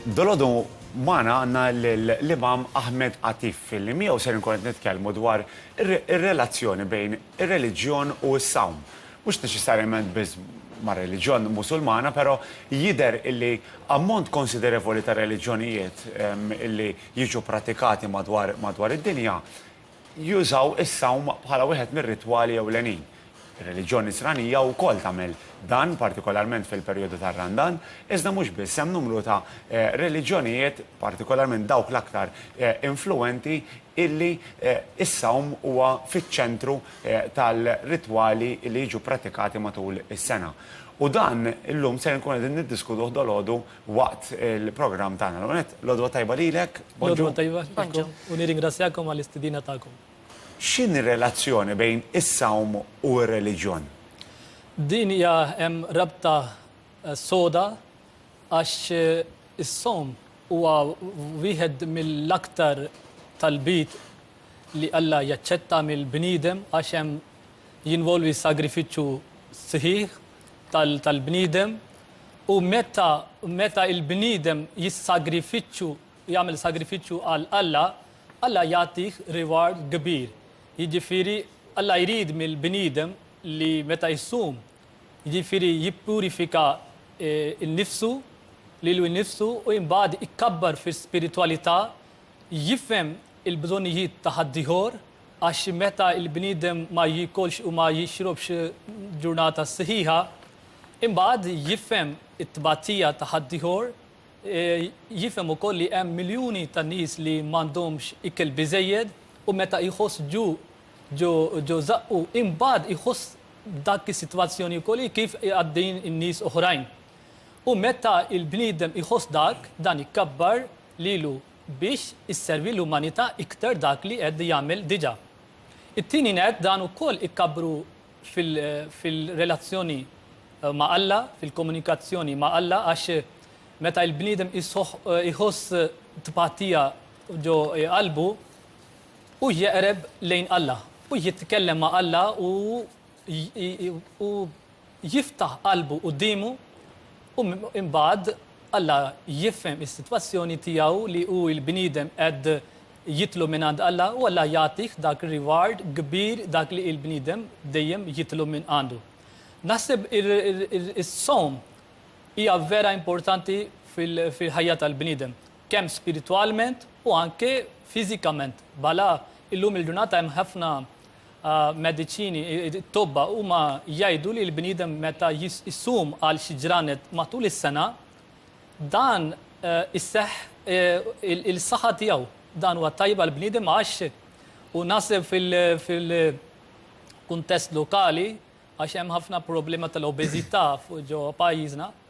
Dalgħodu magħna għandna lill-Imam Ahmed Atif li miegħu ser inkun qed nitkellmu dwar ir-relazzjoni bejn ir-reliġjon u s-sawm. Mhux neċessarjament biss mar-reliġjon Musulmana però jidher illi ammont konsiderevoli ta' reliġjonijiet illi jiġu pratikati madwar id-dinja Jużaw is-sawm bħala wieħed mir-ritwali ewlenin. Ir-reliġjon Nisranija wkoll tagħmel dan, partikolarment fil-perjodu tar-Randan, iżda mhux biss, hemm numru ta' reliġjonijiet, partikolarment dawk l-aktar influwenti, illi s-sawm huwa fiċ-ċentru tal-ritwali li jiġu ppratikati matul is-sena. U dan illum ser inkunu qegħdin niddiskutuh dalgħodu. waqt il-programm tagħna. L-ewwel nett, l-għodwa tajba lilek, Bonġu. L-għodwa tajba lilkom u nirringrazzjakom għall-istedina tagħkom. X'inhi r-relazzjoni bejn is-sawm u r-reliġjon? Din hija hemm rabta soda għax is-sawm huwa wieħed mill-aktar talbiet li Alla jaċċetta mill-bniedem għax hemm jinvolvi sagrifiċċju sħiħ tal-bniedem u meta meta il-bniedem jissagrifiċċu jagħmel sagrifiċċju għal Alla, Alla jagħtih reward kbir. Jiġifieri Alla jrid mill-bniedem li meta jsum, jiġifieri jippurifika eh, n-nifsu lilu nnifsu u imbagħad ikkabbar fis-spiritwalità, jifhem il-bżonnijiet ta' ħaddieħor Għax meta l-bniedem ma jiekolx u ma jixrobx ġurnata sħiħa, imbagħad jifhem it-tbatija ta' ħaddieħor, jifhem ukoll li hemm miljuni ta' nies li m'għandhomx ikel biżżejjed u meta jħoss ġuq ġo ġo żaqqu, imbagħad iħoss dak is-sitwazzjoni wkoll hi kif għaddejjin in-nies oħrajn. U meta l-bniedem iħoss dak, dan ikabbar lilu biex isservi l-umanità iktar dak li qed jagħmel diġà. It-tieni nett dan ukoll ikkabbru fil-relazzjoni ma' Alla, fil-komunikazzjoni ma' Alla għax meta l-bniedem iħoss tpatija ġo qalbu u jeqreb lejn Alla u jitkellem ma' Alla u jiftaħ qalbu quddiemu u imbagħad Alla jifhem is-sitwazzjoni tiegħu li hu l-bniedem qed jitlob mingħand Alla u Alla jagħtih dak ir-reward kbir dak li l-bniedem dejjem jitlob minn għandu. Naħseb is-sawm hija vera importanti fil-ħajja tal-bniedem, kemm spiritwalment u anke fiżikament. Bala illum il-ġurnata hemm ħafna mediċini, it-tobba huma jgħidu li l-bniedem meta jissum għal xi ġranet matul is-sena, dan eh, isseħ eh, il-saħħa tiegħu. Dan huwa tajba l bniedem għax u nasib fil-kuntest lokali għax hemm ħafna problema tal-obeżità fuq ġo pajjiżna.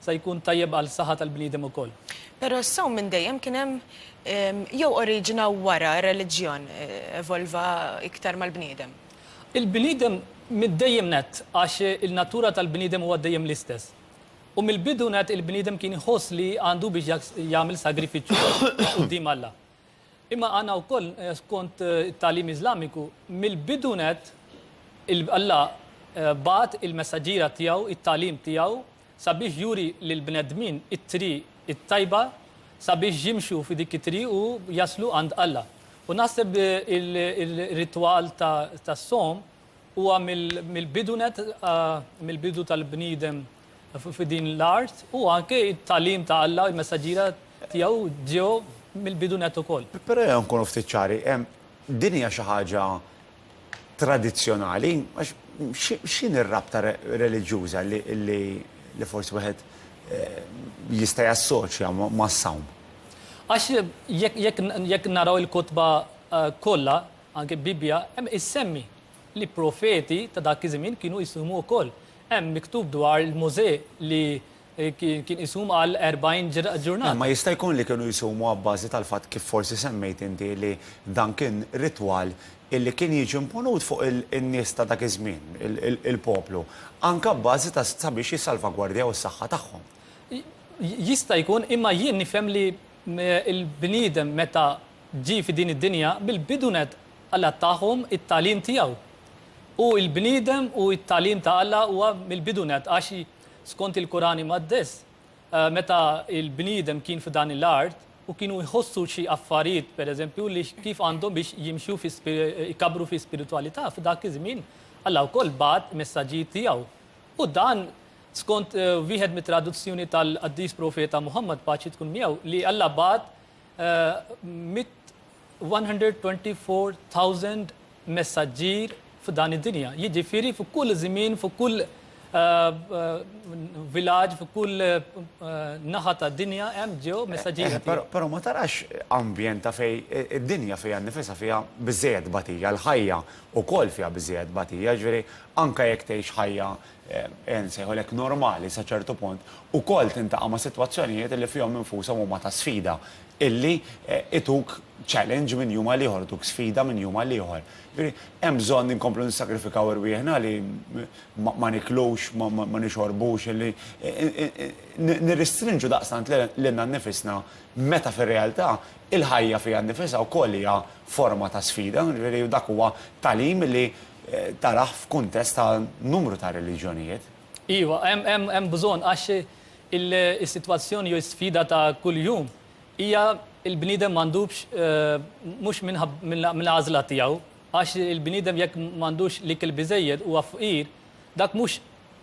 Se jkun tajjeb għal saħħa tal-bniedem ukoll. Però s-sawm minn dejjem kien hemm ehm, jew oriġina wara r-reliġjon eh, evolva iktar mal-bniedem. Il-bniedem mid-dejjem net għax il-natura tal-bniedem huwa dejjem l-istess. U mill-bidu net il-bniedem kien iħoss li għandu biex jagħmel sagrifiċċju quddiem Alla. Imma għandna wkoll eh, skont eh, it-tagħlim Iżlamiku mill-bidu net Alla eh, bat il-messaġġiera tiegħu, it-tagħlim tiegħu sabiex juri lil bnedmin it-tri it-tajba sabiex jimxu fi dik it-tri u jaslu għand Alla. U naħseb il-ritwal ta' som Huwa mill-bidu net, mill-bidu tal-bniedem f'din l-art u anke it-talim ta' Alla, il-messaġġira tiegħu ġew mill-bidu net ukoll. Però jew nkunu ftit ċari, din hija xi ħaġa tradizzjonali, għax x'inhi r-rabta reliġjuża li forsi wieħed jista' jassoċja mas-sawm? Għax jekk naraw il-kotba kollha, Anke Bibbja hemm issemmi li profeti ta' dak iż-żmien kienu jsumu wkoll. Hemm miktub dwar il-Mosè li eh, kien isum għal 40 ġurnata. Imma jista' jkun li kienu jsumu abbażi tal-fatt kif forsi semmejt inti li dan kien ritwal illi kien jiġi imponut fuq in-nies ta' dak iż-żmien, il-poplu, anke abbażi ta' sabiex jissalvagwardjaw is-saħħa tagħhom. Jista' jkun, imma jien nifhem li il-bniedem meta Ġie fi din id-dinja bil-bidu nett Alla tahom it-tagħlim tiegħu. U l-bniedem u t-tagħlim ta' Alla huwa mill-bidu nett għax skont il-Kuran Imqaddes meta l-bniedem kien f'dan l-art u kienu jħossu xi affarijiet pereżempju li kif għandhom biex jimxu fi jkabbru fi spiritwalità f'dak iż-żmien Alla wkoll bagħat messaġġijiet tiegħu. U dan skont wieħed mit-traduzzjoni tal-Qaddis Profeta Muħammad paċi tkun miegħu li Alla bagħat 124,000 messaġġier f'dan id-dinja. Jiġifieri fuq kull żmien, fuq kull eh, eh, villaġġ, fuq kull eh, naħa ta' dinja hemm ġew messaġġier. Però ma tarax ambjent ta' fej id-dinja fiha nifisha fiha biżejjed batija, l-ħajja wkoll fiha biżejjed batija, ġifieri anke jekk tgħix ħajja nsejħulek normali sa ċertu punt, ukoll tintaqa' ma' sitwazzjonijiet li fihom infushom huma ta' sfida, illi ituk challenge minn jum għal ieħor, ituk sfida minn jum għal ieħor. Jiġifieri hemm bżonn inkomplu nissagrifikaw irwieħna li ma niklux, ma nixorbux, illi nirristrinġu daqstant lilna nnifisna meta fir-realtà il-ħajja fiha nnifisha wkoll hija forma ta' sfida, jiġifieri dak huwa tagħlim li Taraħ f'kuntest ta' numru ta' reliġjonijiet. Iva, hemm bżonn għax is-sitwazzjoni jew is-sfida ta' kuljum hija l-bniedem m'għandux mhux mill-għażla tiegħu għax il-bniedem jekk m'għandux l-ikel biżżejjed huwa fqir, dak mhux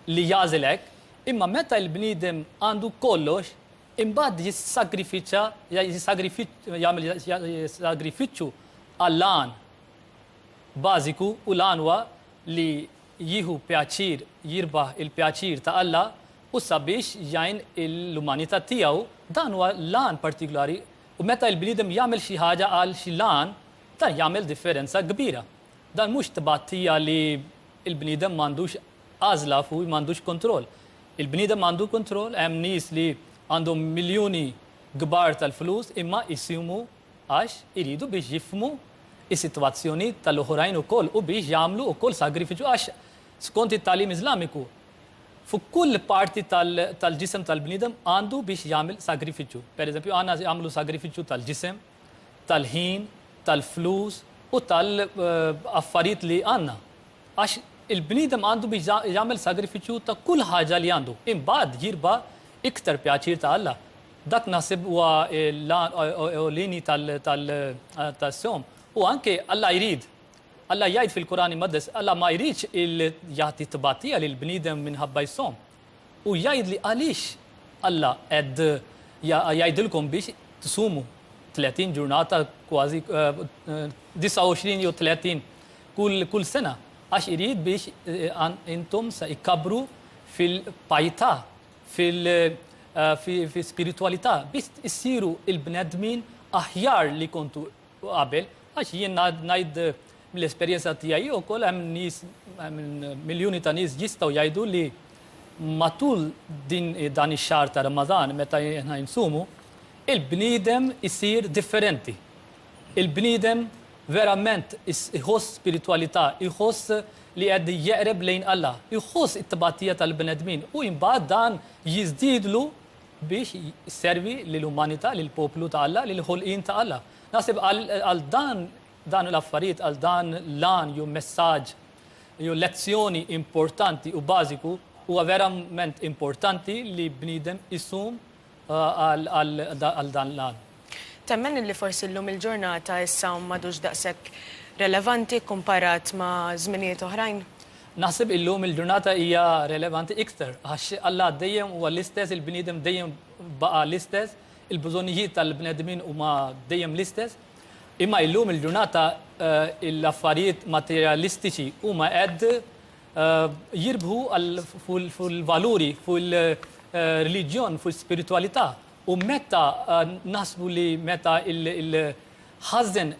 li jagħżel hekk, imma meta l-bniedem għandu kollox imbagħad jissagrifiċċa jagħmel sagrifiċċju għall-għan. bażiku u l-għan huwa li jieħu pjaċir, jirbaħ il-pjaċir ta' Alla u sabiex jgħin l-umanità tiegħu. Dan huwa l-għan partikulari u meta l-bniedem jagħmel xi ħaġa għal xi l-għan, dan jagħmel differenza kbira. Dan mhux tbatija li l-bniedem m'għandux għażla fuq u m'għandux kontroll. Il-bniedem għandu kontroll, hemm nies li għandhom miljuni kbar tal-flus imma jsimu għax iridu biex jifhmu s-sitwazzjoni tal-oħrajn ukoll u biex jagħmlu wkoll sagrifiċċju għax skont it-tagħlim Iżlamiku fuq kull parti tal-ġisem tal-bniedem għandu biex jagħmel sagrifiċċju. Pereżempju għandna jagħmlu sagrifiċċju tal-ġisem, tal-ħin, tal-flus u tal-affarijiet li għandna. Għax il-bniedem għandu biex jagħmel sagrifiċċju ta' kull ħaġa li għandu. Imbagħad jirba' iktar pjaċir ta' Alla. Dak naħseb huwa l-għan ewlieni tal-sawm. U anke Alla jrid. Alla jgħid fil-Kur'an Imqaddes, Alla ma jridx jagħti tbatija lil bniedem minħabba jsawm. U jgħid li għaliex Alla qed jgħidilkom biex tsumu 30 ġurnata kważi 29 jew 30 kull sena għax irid biex intom se ikkabbru fil-pajtà. fil fi spiritwalità biss issiru il-bnedmin aħjar li kontu qabel għax jien ngħid mill-esperjenza tiegħi wkoll hemm nies miljuni ta' nies jistgħu jgħidu li matul din dan ix-xahar ta' Ramadan meta aħna jinsumu il-bniedem isir differenti. Il-bniedem verament iħoss spiritwalità, iħoss li qed jeqreb lejn Alla, iħoss it-tbatija tal-bnedmin u imbagħad dan jiżdiedlu biex jservi lill-umanità, lill-poplu ta' Alla, lill-ħolqien ta' Alla. Naħseb għal dan dan l-affarijiet, għal dan l-għan jew messaġġ jew lezzjoni importanti u bażiku huwa verament importanti li bniedem isum għal dan l-għan. Temmen illi forsi llum il-ġurnata is-sawm m'għadux daqshekk relevanti kkumparat ma' żminijiet oħrajn? Naħseb illum il-ġurnata hija relevanti iktar għax Alla dejjem huwa l-istess, il-bniedem dejjem baqa' l-istess, il-bżonnijiet tal-bnedmin huma dejjem l-istess. Imma illum il-ġurnata l-affarijiet materjalistiċi huma qed jirbħu fuq il-valuri, fuq il-reliġjon, fuq il-spiritualità. U meta naħsbu li meta il-ħażen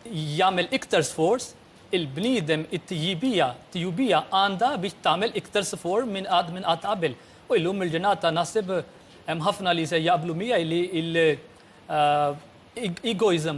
jagħmel iktar sforz, il-bniedem it-tijibija, tijubija għandha biex tagħmel iktar sfor minn qatt minn qatt qabel. U illum il-ġurnata naħseb hemm ħafna li se jaqblu miegħi li il-egoism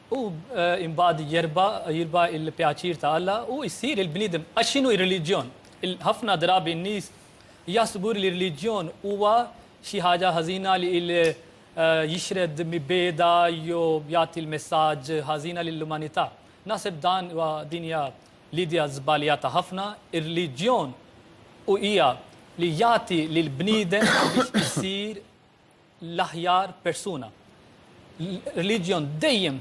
U imbagħad jerba' jirba' il-pjaċir ta' Alla u jsir il-bniedem. Għax x'inhu r-reliġjon? Ħafna drabi n-nies jaħsbu li r-reliġjon huwa xi ħaġa ħażina li jixred mibgħeda jew jagħti l-messaġġ ħażina lill-umanità. Naħseb dan huwa din hija l-idea żbaljata ħafna. Ir-reliġjon hu hija li jagħti lill-bniedem biex isir l-aħjar persuna. Reliġjon dejjem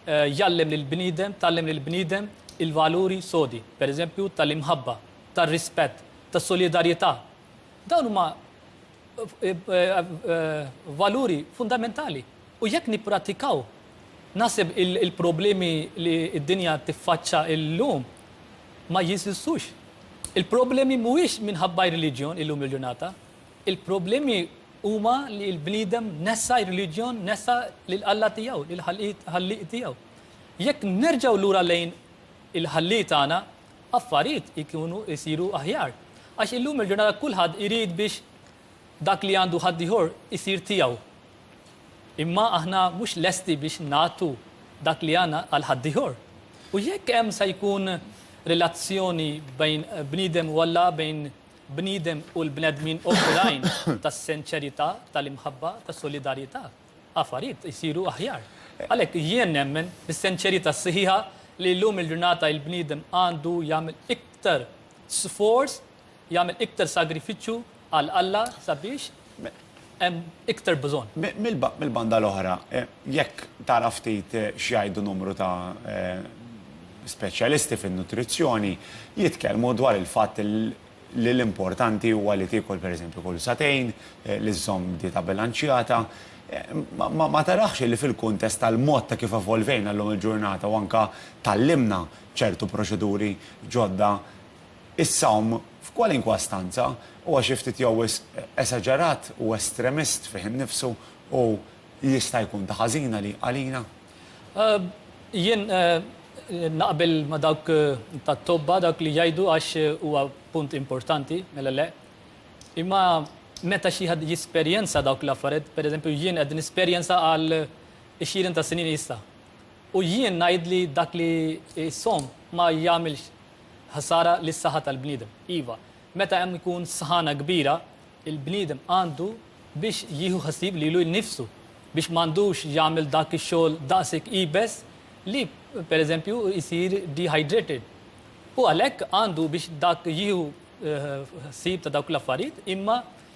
eh, jallem lil bniedem, tallem lil bniedem il-valuri sodi, per eżempju tal-imħabba, tal-rispett, tas-solidarjetà. Dawn huma eh, eh, valuri fundamentali. U jekk nippratikaw, nasib il-problemi li d-dinja tiffaċċa illum ma jisistux. Il-problemi mhuwiex minħabba reliġjon illum il-ġurnata, Il-problemi huma li l-bniedem nessa r-reliġjon, nessa lil Alla tiegħu, lil Ħallieq tiegħu. Jekk nerġgħu lura lejn il-Ħallieq tagħna, affarijiet ikunu jsiru aħjar. Għax illum il-ġurnata kulħadd irid biex dak li għandu ħaddieħor isir tiegħu. Imma aħna mhux lesti biex nagħtu dak li għandna għal ħaddieħor. U jekk hemm se jkun relazzjoni bejn bniedem u Alla, bejn bniedem u l-bnedmin oħrajn ta' senċerità, tal-imħabba, ta' solidarjità, affarijiet isiru aħjar. Għalhekk jien nemmen bis-senċerità sħiħa li llum il-ġurnata il-bniedem għandu jagħmel iktar sforz, jagħmel iktar sagrifiċċju għal Alla sabiex hemm iktar bżonn. Mill-banda l-oħra, jekk tara ftit x'jgħidu numru ta' speċjalisti fin-nutrizzjoni, jitkellmu dwar il-fatt li l-importanti huwa li tiekol pereżempju kull sagħtejn, li żżomm dieta bilanċjata. Ma tarax li fil-kuntest tal-mod ta' kif evolvejna llum il-ġurnata u anke tgħallimna ċertu proċeduri ġodda, Is-sawm f'kwalinkwa stanza huwa xi ftit jew wisq esaġerat u estremist fih innifsu u jista' jkun ta' ħażin għalina? Jien naqbel ma' dawk tat-tobba, dawk li jgħidu għax huwa punt importanti, mela le. Imma meta xi ħadd jesperjenza dawk l-affarijiet, pereżempju jien qed nesperjenza għal għexieren ta' snin issa. U jien ngħid li dak li jsawm ma jagħmilx Ħsara lis-saħħa tal-bniedem. Iva, meta hemm ikun sħana kbira, il-bniedem għandu biex jieħu ħsieb lilu nnifsu biex m'għandux jagħmel dak ix-xogħol daqshekk iebes li pereżempju jsir dehydrated. U għalhekk għandu biex dak jieħu eh, ħsieb ta' dawk l-affarijiet imma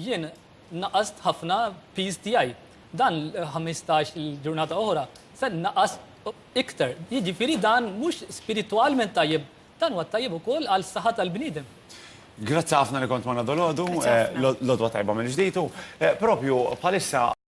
Jien naqast ħafna piż tiegħi. Dan 15 il-ġurnata oħra se naqas iktar. Jiġifieri dan mhux spiritwalment tajjeb, dan huwa tajjeb ukoll għal saħħa tal-bniedem. Grazzi ħafna li kont magħna dolodu, l-odwa tajba mill-ġdid u propju bħalissa